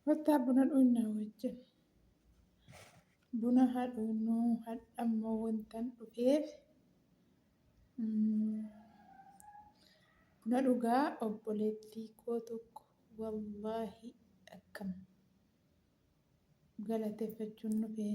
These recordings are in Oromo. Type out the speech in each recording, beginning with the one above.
Kottaa buna dhuunnaa wajjin. Buna haa dhuunnuu hadhammoo wantan dhufeef buna dhugaa obboleettii koo tokko wallaahi akkam galateeffachuun dhufee.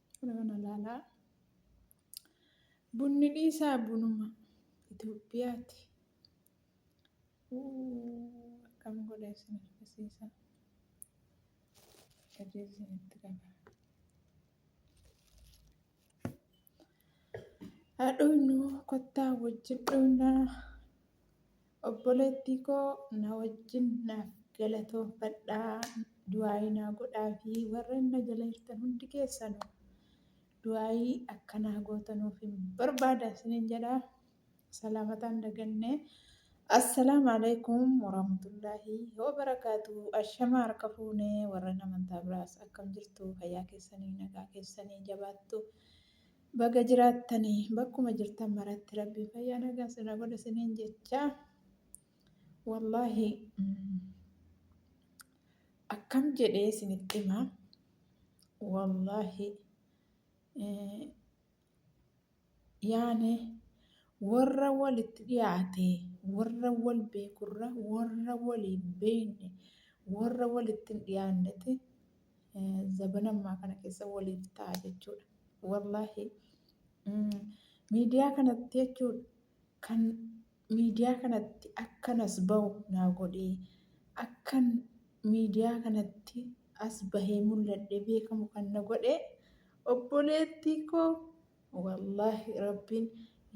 Kana kana ilaalaa. Bunni dhiisaa bunuma Itoophiyaati. Akkam godhee isin argisiisa. Gadee isinitti qaba. Haadhoon kottaa wajjin dhugnaa. Obboleettiikoo na wajjin naaf galatoonfadhaa du'aayii naa godhaafii warreen na jala jirtan hundi keessanu du'aayii akka naa gootanuufin barbaada isinin jedha salaamataan dagannee Assalaamu alaikum warahmatullaahi wabarakaatu ashama harka fuunee warreen amantaa biraas akkam jirtu fayyaa keessanii nagaa keessanii jabaattu Baga jiraattani bakkuma jirtan maratti rabbiin fayyaa nagaa sirra godha siniin jecha wallaahi akkam jedhee sinitti hima wallaahi yaane warra walitti dhiyaate warra wal beekurra warra walii beekne warra walitti hin dhiyaanneti zabana ammaa kana keessa waliif ta'a jechuudha. Wallaahi miidiyaa kanatti jechuudha kan miidiyaa kanatti akkan as bahu naa godhee akkan miidiyaa kanatti as bahee mul'adhe beekamu kan na godhe obboleettii koo wallaahi rabbiin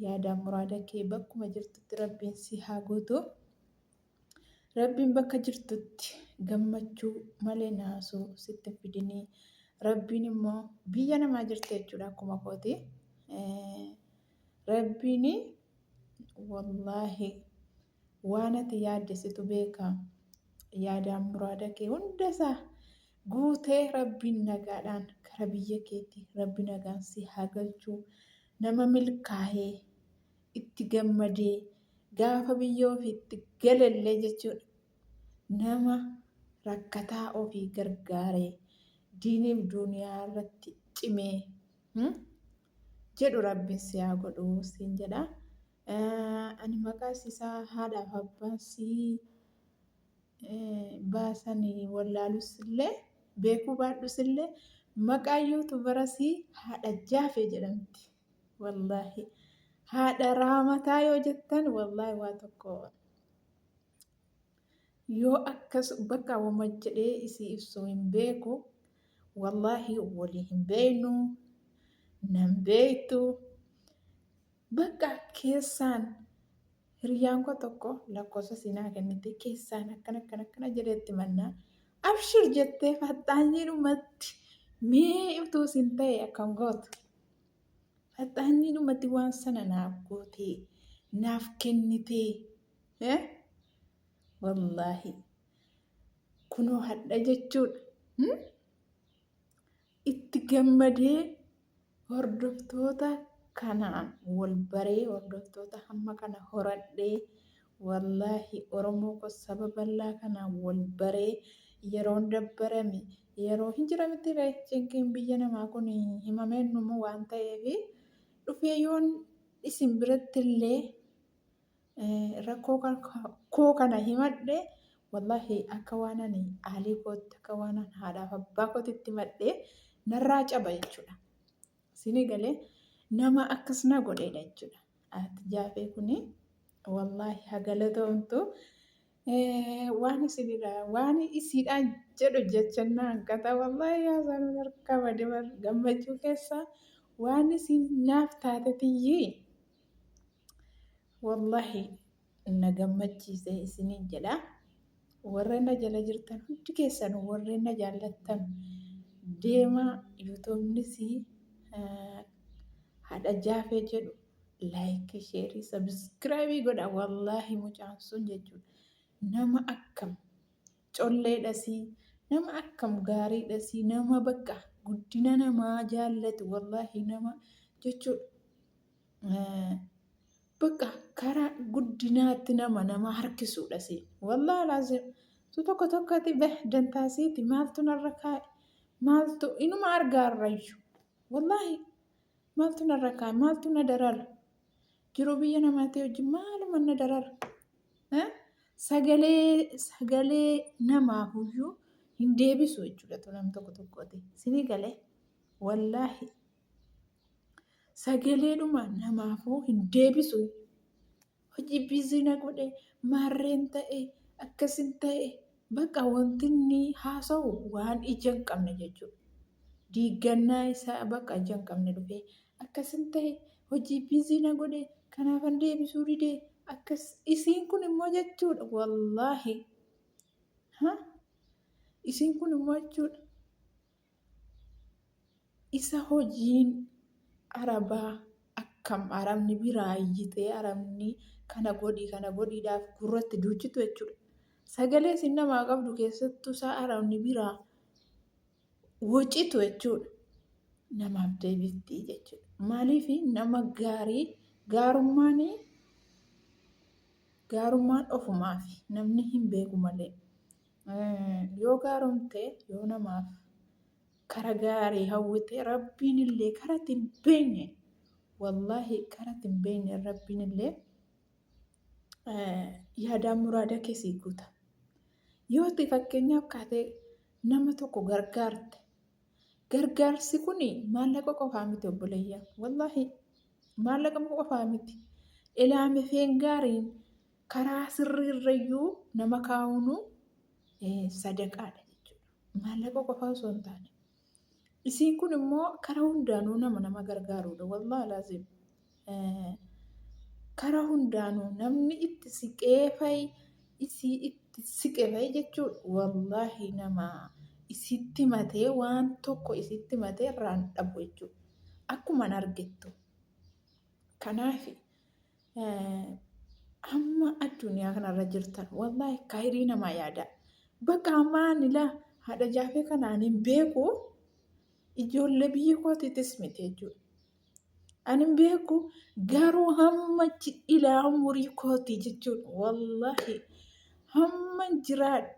yaadaa muraada kee bakkuma jirtutti rabbiin si haa guutu. Rabbiin bakka jirtutti gammachuu malee naasuu sitti hin fidinii. Rabbiin immoo biyya namaa jirti jechuudha akkuma kooti. Rabbiin wallaahi waan ati yaadde situ beeka. Yaadaan muraada kee hunda isaa guutee rabbiin nagaadhaan kara biyya keetti rabbi nagaan si haa galchuu. Nama milkaa'ee itti gammadee gaafa biyya ofiitti galellee jechuudha nama rakkataa ofii gargaaree diiniif duuniyaa irratti cimee hmm? jedhu rabbiin si haa godhu siin jedha Eh, ani maqaa isaa haadhaaf abbaan sii eh, baasanii wallaalus illee beekuu baadhus illee maqaa yuutubarasii haadha jaafee jedhamti Wallaahi haadha raamataa yoo jettan wallaahi waa tokko yoo akkas bakka wama jedhee isii ibsu hin beeku wallaahi walii hin beeynu nan beeytu bakka keessaan hiriyaan koo tokko lakkoofsa siinaa kennite keessaan akkana akkana akkana jedheetti mannaa abshir jettee faxxaanyiidhumatti mee utuu isin ta'e akkam gootu Faxaanni dhumatti waan sana naaf gootee naaf kennitee eh? wallaahi kunoo hadha jechuudha hmm? itti gammadee hordoftoota kanaan wal baree hordoftoota hamma kana horadhee wallaahi oromoo ko saba bal'aa kanaan wal baree yeroon dabbarame Yeroo hin jira mitti ree cinqiin biyya namaa kun himameen numu waan ta'eef dhufee yoon isin biratti illee rakkoo koo kana himadhe wallahi akka waan ani aalii kootti akka waan haadhaaf abbaa kootitti himadhe narraa caba jechuudha. Sini galee nama akkas na godheedha jechuudha. Ati jaafee kuni wallaahi ha galatoomtu waan isinidha waan isiidhaan jedhu jechannaa hanqata wallaahi haasaan harkaa bade bar gammachuu keessa waan isin naaf taate tiyyii wallaahi na gammachiise isiniin jedha. Warra na jala jirtan hundi keessan warreen na jaallattan deemaa yuutuubnis haadha jaafee jedhu laayikii sheerii sabiskiraabii godha wallaahi mucaan sun jechuudha nama akkam Collee dhasii nama akkam gaarii dhasii nama bakka guddina namaa jaallatu wallaahi nama jechuudha. Bakka karaa guddinaatti nama nama harkisuudha si. Wallaahi laazim. Tu tokko tokkotti beh dantaasiiti maaltu narra kaa'e maaltu inuma argaarrayyu. Wallaahi maaltu narra kaa'e maaltu na darara. Jiruu biyya namaatii hojii maaluma na darara. eh, sagalee sagalee namaa huyyuu hin deebisu jechuudha tu nam tokko tokkooti sini gale wallaahi sagaleedhuma namaafuu hin deebisu hojii biizii na godhe maarreen ta'e akkasin ta'e baqa wanti inni haasa'u waan ija hin qabne jechuudha diiggannaa isaa baqa ija hin qabne dhufee akkasin tahe hojii busy na godhe kanaafan deebisuu dide akkas isiin kun immoo jechuudha wallaahi ha isiin kun immoo jechuudha isa hojiin arabaa akkam arabni biraayyitee arabni kana godhi kana godhiidhaaf gurratti duuchitu jechuudha sagalee isin namaa qabdu keessattuu isaa arabni biraa wocitu jechuudha. Namaaf deebifti jechuudha. Maaliif nama gaarii gaarummaan gaarummaan ofumaaf namni hin beeku malee yoo gaaromte yoo namaaf kara gaarii hawwite rabbiin illee kara ittiin beenye wallaahi kara ittiin beenye rabbiin illee yaadaa muraada keessii guuta. Yoo itti fakkeenyaaf kaatee nama tokko gargaarte gargaarsi kun maallaqa qofaa miti obboleeyya wallaahi maallaqa qofaa miti ilaamefeen gaariin karaa sirriirrayyuu nama kaa'uunu sadaqaadha jechuudha maallaqa qofaa osoo hin taane Isiin kun immoo kara hundaanuu nama nama gargaaruudha. Wallahi laazim. Kara hundaanuu namni itti siqee fa'i isii itti siqe fa'i jechuudha. Wallahi nama isitti matee waan tokko isitti matee irraan dhabu jechuudha. Akkuman argittu. Kanaafi. amma addunyaa kanarra jirtan wallaahi kaayirii namaa yaada bakka ammaa anilaa haadha jaafee kana ani hin beeku ijoollee biyya kootiitis miti jechuudha. Ani hin beeku garuu hamma jidhilaa umurii kootii jechuudha wallaahi hamma jiraadhu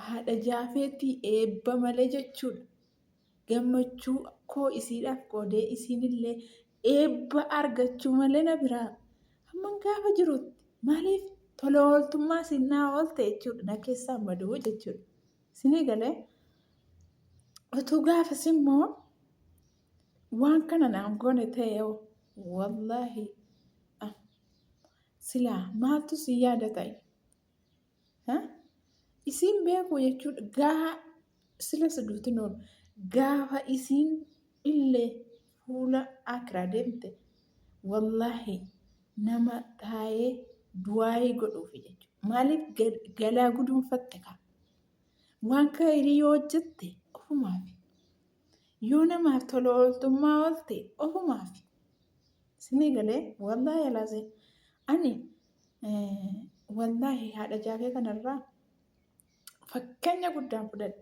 haadha jaafeetii eebba malee jechuudha. gammachuu koo isiidhaaf qoodee isiinillee Eebba argachuu malee na biraa hamman gaafa jirutti maaliif tola ooltummaa siin naa oolte jechuudha na keessaan baduu jechuudha. Sinii galee utuu gaafas immoo waan kana naan goone ta'e hoo wallaahi ah, silaa maaltu si yaada ta'e? Isiin beekuu jechuudha gaafa sila siduutin oolu gaafa isiin illee fuula akiraa deemte wallaahi nama taa'ee du'aayii godhuufi jechuudha. Maaliif galaa guduunfatte kaa waan kaayirii yoo hojjette ofumaafi yoo namaaf tola ooltummaa oolte ofumaafi. Sinii galee wallaahi laazee ani Wallaahi haadha jaafee kanarraa fakkeenya guddaan fudhadhe.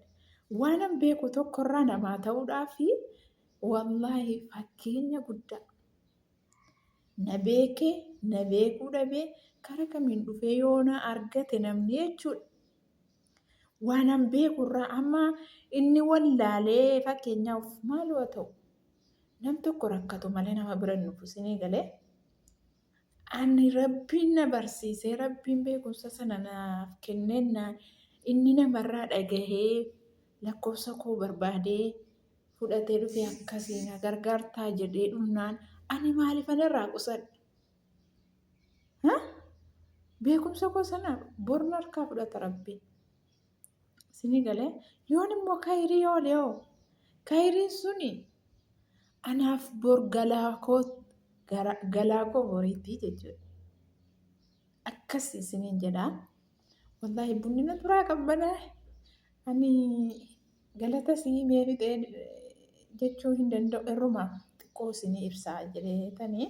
Waanan beeku tokkorraa namaa ta'uudhaa fi wallaahi fakkeenya guddaa. Na beekee, na beekuu dhabee, kara kamiin dhufee yoo na argate namni jechuudha. Waanan beekurraa amma inni wallaalee fakkeenyaaf maaloo ta'u nam tokko rakkatu malee nama bira hin dhufu sinii galee. Ani Rabbiin na barsiisee, Rabbiin beekumsa sana naaf kennennaan, inni namarraa dhagahee lakkoofsa koo barbaadee fudhatee dhufe akkasii na gargaartaa jedhee dhumnaan ani maalifan irraa qusadha? Beekumsa koo sana bor narkaa fudhata Rabbiin. Isinii galee yoon immoo kayirii oole hoo kayiriin suni anaaf bor galaa koo gara- galaa koo boriitii jechuudha. Akkas isiniin jedhaa. Wallaahi bunni na duraa qabbanaa. Ani galata isinii mee fixee jechuu hin danda'u irrumaa xiqqoo isinii ibsaa jedhee tanii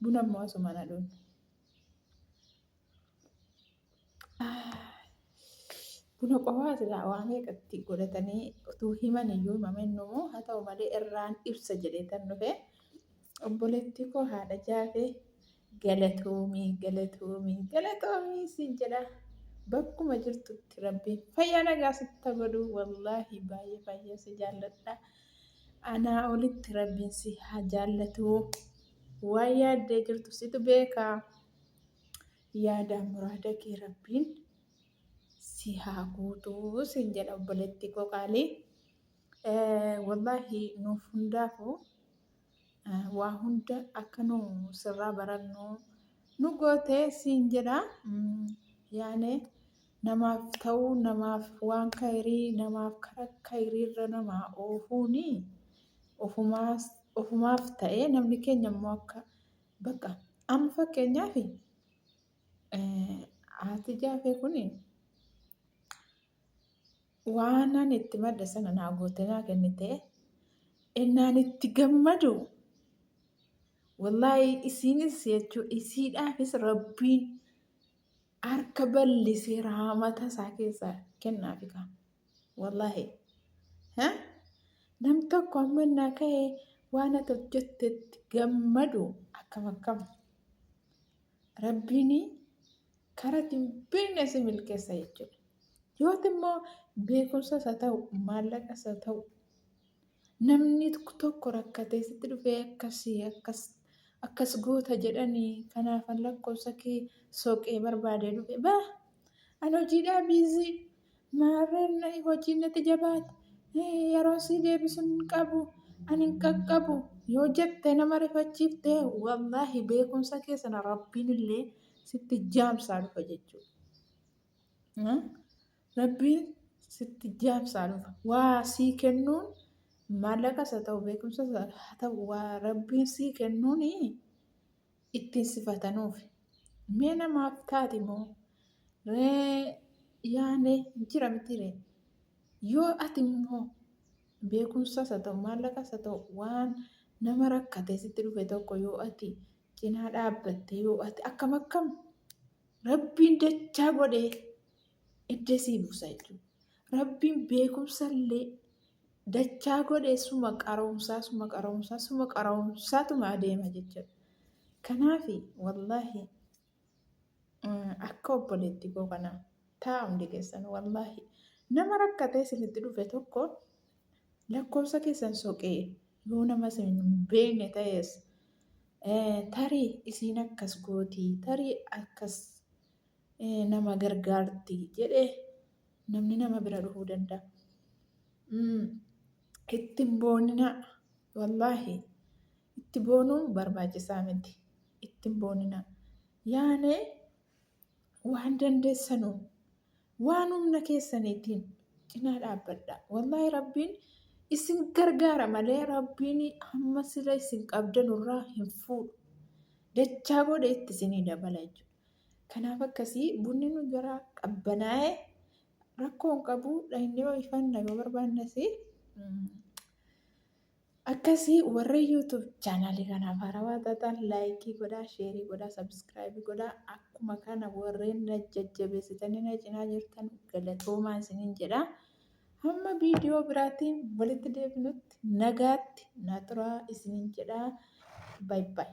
buna immoo asuma na dhuunfa. Buna qofaa silaa waa meeqa itti godhatanii utuu himan iyyuu mamennuu haa ta'u malee irraan ibsa jedhee tan dhufe obboleettii koo haadha jaafee galatoomii galatoomii galatoomii siin jedha bakkuma jirtutti rabbiin fayyaa nagaa sitta godhu wallaahi baay'ee baay'ee si jaalladha anaa olitti rabbiin si haa jaallatu waa yaaddee jirtu situ beekaa. yaadaa muraada kee rabbiin si haa guutuu sin jedha obboleettii koo qaalii wallaahi nuuf hundaafuu waa hunda akka nu sirraa barannu nu goote siin jedha yaane namaaf ta'uu namaaf waan kayrii namaaf kara kayriirra namaa oofuuni ofumaas ofumaaf ta'ee namni keenya immoo akka Bakka amma fakkeenyaaf haati jaafee kun waanan itti madde sana naa gootee naa kennite innaan itti gammadu wallaahi isiinis jechuu isiidhaafis rabbiin harka ballisee raamata isaa keessaa kennaa fikaa. Wallaahi. Nam tokko amma naa ka'ee waan ati hojjettetti gammadu akkam akkam. Rabbiin karaa ittiin beekne si milkeessa jechuudha. Yooti immoo beekumsas haa ta'u maallaqas haa ta'u Namni tokko rakkatee sitti dhufee akkasi akkas akkas goota jedhani kanaafan lakkoofsa kee soqee barbaadee dhufe ba an hojiidhaa biizii maarreen hojiin natti jabaate yeroo sii deebisu hin qabu an hin qaqqabu yoo jette nama rifachiifte wallaahi beekumsa kee sana rabbiin illee sitti jaamsaa dhufa jechuudha. Rabbiin sitti jaabsaa dhufa. Waa sii kennuun maallaqas haa ta'u beekumsas haa ta'u waa rabbiin sii kennuun ittiin sifatanuuf. Mee namaaf taati moo ree yaane jira miti ree. Yoo ati immoo beekumsas haa ta'u maallaqas haa ta'u waan nama rakkatee sitti dhufe tokko yoo ati cinaa dhaabbatte yoo ati akkam akkam rabbiin dachaa godhee Eddesii buusa jechuudha. Rabbiin beekumsallee dachaa godhee suma qaroomsaa suma qaroomsaa suma qaroomsaatuma adeema jechuudha. Kanaaf wallaahi akka obboleetti koo kana taa'u hundi keessan wallaahi nama rakkatee isinitti dhufe tokko lakkoofsa keessan soqee yoo nama isin beekne ta'es tarii isiin akkas gootii tarii akkas nama gargaarti jedhe namni nama bira dhufuu danda'a. Mm, Itti hin booninaa wallaahi itti boonuun barbaachisaa miti itti hin booninaa yaane waan dandeessanu waan humna keessaniitiin cinaa dhaabbadha wallaahi rabbiin isin gargaara malee rabbiin hamma sila isin qabdanurraa hin fuudhu dachaa booda itti isinii dabala jechuudha. Kanaaf akkasii bunni nu jara qabbanaa'e rakkoo hin qabu dhaynee ho'ifanna yoo barbaannes akkasii warri yuutuub chaanaalii kanaaf haarawaa taataan laayikii godhaa sheerii godhaa sabiskiraayibii godhaa akkuma kana warreen na jajjabeessitanii na cinaa jirtan galatoomaa isiniin jedha hamma viidiyoo biraatiin walitti deebinutti nagaatti na turaa isiniin jedha baay'ee.